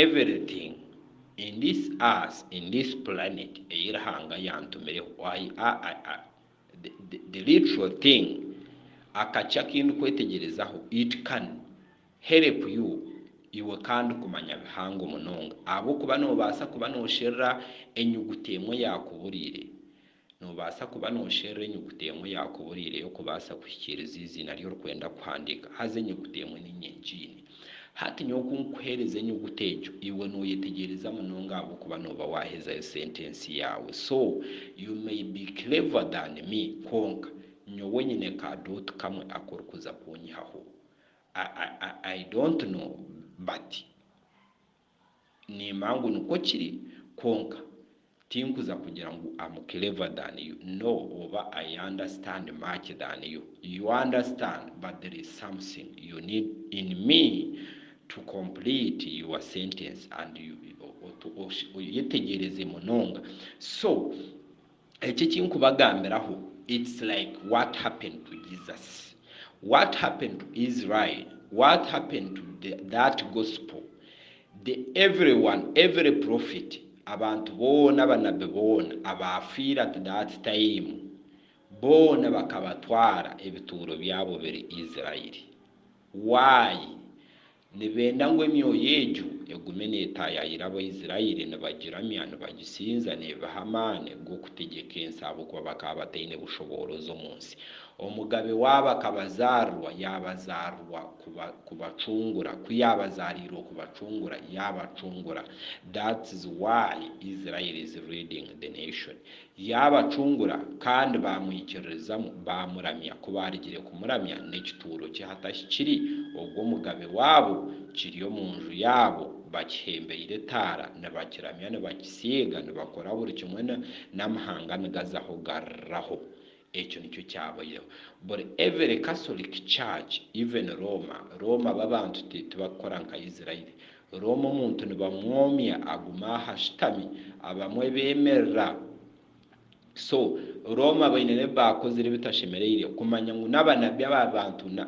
Everything in this earth in this planet ei Ruhanga yantumireho I I I the the literal thing akaki akindikwetegyerezaho it can help you iwe kandi kumanya bihango munonga ahabw'okuba noobaasa kuba noosherura enyuguta emwe eyaakuburiire Noobaasa kuba noosherura enyuguta emwe yaakuburiireyo kubaasa kuhikiiriza eiziina ri orikwenda kuhandiika. Haza enyuguta emwe ni nyengiine. Hati nyowe ku nkuheereza enyuguta egyo, iwe nooyetegyereza munonga ahabw'okuba nooba waahezayo sentensi yaawe. So, you may be clever than me, kwonka nyowe nyine ka dot kamwe aku orikuza kunyihaho. I, I, I, I don't know, but. Nimanya ngu nikwo kiri, kwonka tinkuza kugira ngu am clever than you no oba I understand much than you, you understand but there is something you need in me to complete your sentence and you oyetegyereze munonga so Eki ekinkubagambiraho it's like what happened to Jesus, what happened to Israel, what happened to the that gospel, the everyone, every prophet, abantu boona abanabbi boona abaafiire at that time boona bakabatwara ebituuro byabo biri Israel. Why? Nibenda ngu emyoyo egyo egume neetaayaayira Abaisraeli nibagiramya, nibagisinza, neebiha amaani g'okutegyeka ensi ahabw'okuba bakaba bataine bushoboorozi omu nsi. Omugabe waabo akabazaarwa yaabazaarwa kubacungura, ku yaabazaariirwe kubacungura, yaabacungura. That's why Israel is leading the nation. Yaabacungura kandi baamwikiririzamu, baamuramya, ku baarugire kumuramya, n'ekituuro kye hatahi kiri, ogwo omugabe waabo, kiri omu nju yaabo, bakihembeire etaara, nibakiramya, nibakisiiga, nibakora buri kimwe, n'amahanga nigazaho gariraho. Ekyo nikyo kyabaireho buri every catholic church even Roma Roma babantu ti tibakukora nka Israeli Roma omuntu nibamwomya aguma aho ashutami abamwe bemerera so Roma baine nebi bakozire ebitashemereire kumanya ngu nabanabi aba bantu na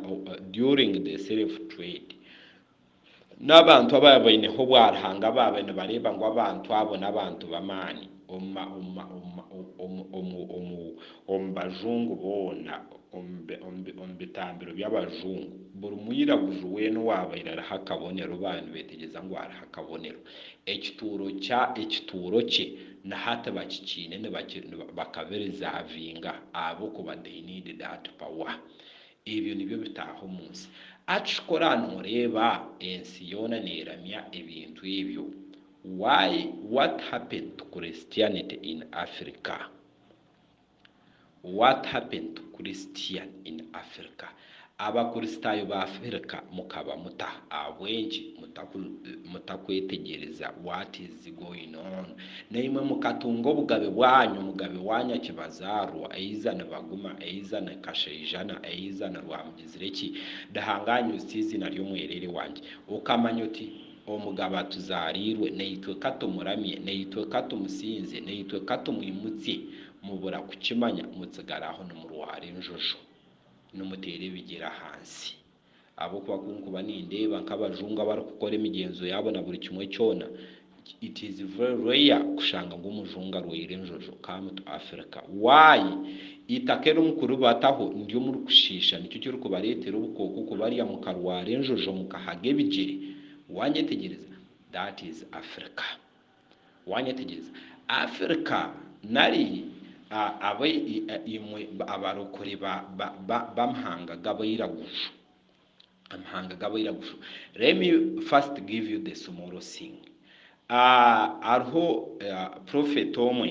during the self trade N'abantu ababa baineho obwaruhanga baabe nibareeba ngu abantu abo n'abantu b'amaani omu bajungu boona, omu bitambiro by'abajungu, buri mwiraguju weena owaabaire ariho akabonero baabe nibeetegyeza ngu hariho akabonero. Ekituuro kye na hati bakikiine bakabirizavinga ahabw'okuba they need that power. Ebyo nibyo bitaaha omu nsi. Akikora noreeba ensi yoona neramya ebintu ebyo. Why what happened to Christianity in Africa? What happened to Christian in Africa? Abakristaayo ba Africa mukaba muta? Ahabw'enki mutakwetegyereza what is. What's going on? Naimwe mukatunga obugabe bwanyu mugabe wa nyakibazaarwa eiza ni Baguma eiza ni Kashaijana eiza ni Rwamugizireki Dahangaa News tiiziina ry'omwereere wangye okamanya oti omugabe atuzaariirwe naitwe katumuramye naitwe katumusinze naitwe katumwimutsye mubura kukimanya mutsigara aho nimurwaara enjojo nimuteera ebigyere ahansi Ahabw'okuba ku nkuba nindeeba nk'abajungu abarikukora emigyenzo yaabo na buri kimwe kyona, it is very rare kushanga ngu omujungu arwaire enjojo, come to Africa. Why? Eitaka eri omu kuribataho niryo omuri kushiisha, nikyo kirikubareetera obukooko kubarya mukarwara enjojo mukahaga ebigyere. Waanyetegyereza? That is Africa. Waanyetegyereza Afirika nari abo imwe abarokore b'amahanga g'abairaguju, amahanga g'abairaguju, let me first give you the small thing, hariho prophet omwe,